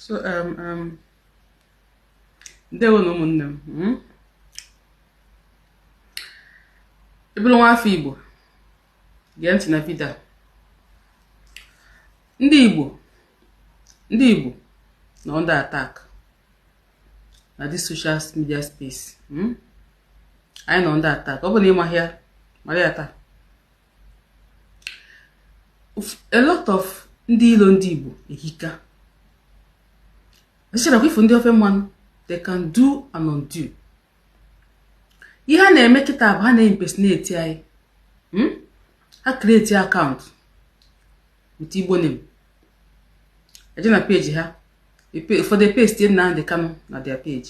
so um, um, ndewo na ụmụnne m hmm? ị bụrụ nwa afọ Igbo gee ntị na vidio ndị Igbo ndị Igbo nọ under attack na this social media space hmm? anyị nọ under attack ọ bụ na ị maghị ya mara ya taa a lot of ndị ilo ndị Igbo ehika ọchịchịra kwa ị fụ ndị ofe mmanụ they can do and undo ihe ha na-eme kịta bụ ha na-impersonate anyị hmm? ha create account with Igbo name eje na page ha ụfọdụ pesti Nnamdi Kanu na their page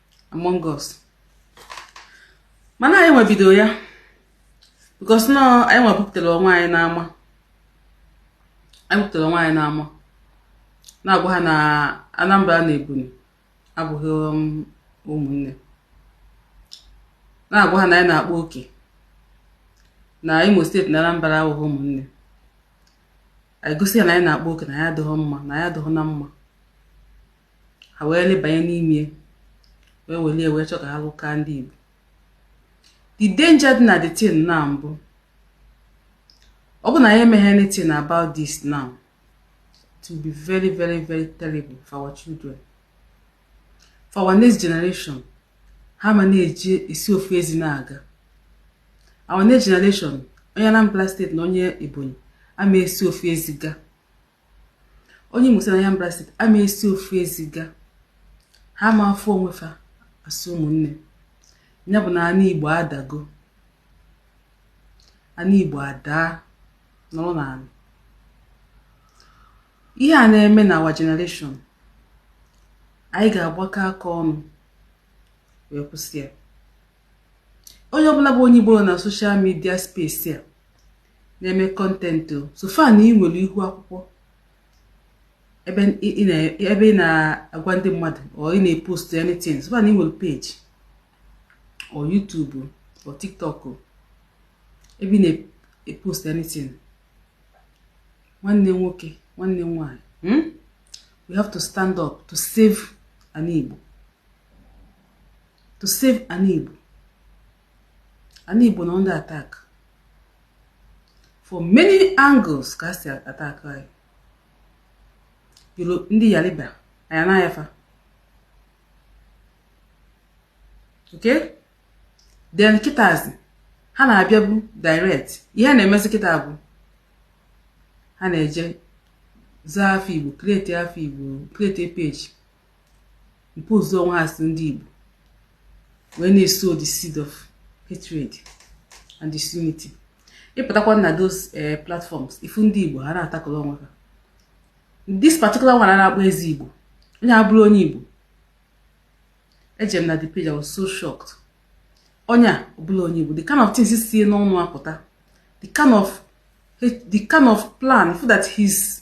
among us mana anyị nwe bido ya because na anyị nwe bupụtara onwe anyị n'ama anyị bupụtara onwe anyị n'ama na-agwa ha na Anambra na Ebonyi abụghị um, ụmụnne na-agwa ha na anyị na-akpa oke na Imo steeti na Anambra abụghị ụmụnne anyị gosi ha na anyị na-akpa oke na anyị adịghị mma na anyị adịghị na mma ha wee lebanye n'ime wee welie wee chọ ka ha lụka ndị Igbo the danger dị na the thing now bụ ọ bụ na anyị emeghị anything about this now it will be very very very terrible for our children for our next generation ha ma na-eji esi ofu ezi na-aga our next generation onye Anambra steeti na onye Ebonyi ama esi ofu ezi gaa onye Imo steeti na Anambra steeti ama esi ofu ezi gaa ha ma afụ onwe fa as ụmụnne ya bụ na anị Igbo adago anị Igbo adaa nọrọ n'anị ihe a na-eme na our generation anyị ga-agbakọ aka ọnụ wee kwụsị ya onye ọbụla bụ onye Igbo nọ na social media space a na-eme content so far na ị nwere ihu akwụkwọ ebe ị na-agwa ndị mmadụ or ị na-epost anything so far na ị nwere page or YouTube or TikTok ebe ị na-epost anything nwanne nwoke nwanne nwanyị hmm? we have to stand up to save anị Igbo to save Ana Igbo. Ana Igbo nọ under attack from many angles ka e si attack anyị. Yoro ndị Yariba anya n'ayafa. Okay? Then kịtazi ha na-abịabu direct ihe na-emezi kịta bụ ha na-eje zaa afa Igbo create afa Igbo create page impose onwe ha as ndị Igbo wee na-esow the seed of hatred and disunity ị pụtakwa na those eh, platforms ị fụ ndị Igbo ha na-atakọrọ onwe ha this particular one a na-akpọ ezi Igbo onye a abụrọ onye Igbo eje m na the page I was so shocked onye a ọ bụrọ onye Igbo the kind of things si ya n'ọnụ apụta the kind of plan for that he's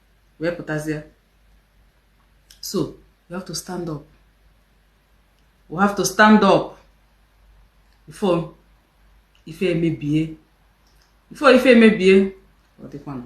wee pụtazie so you have to stand up we have to stand up before ife emebie before ife emebie ọ dịkwanụ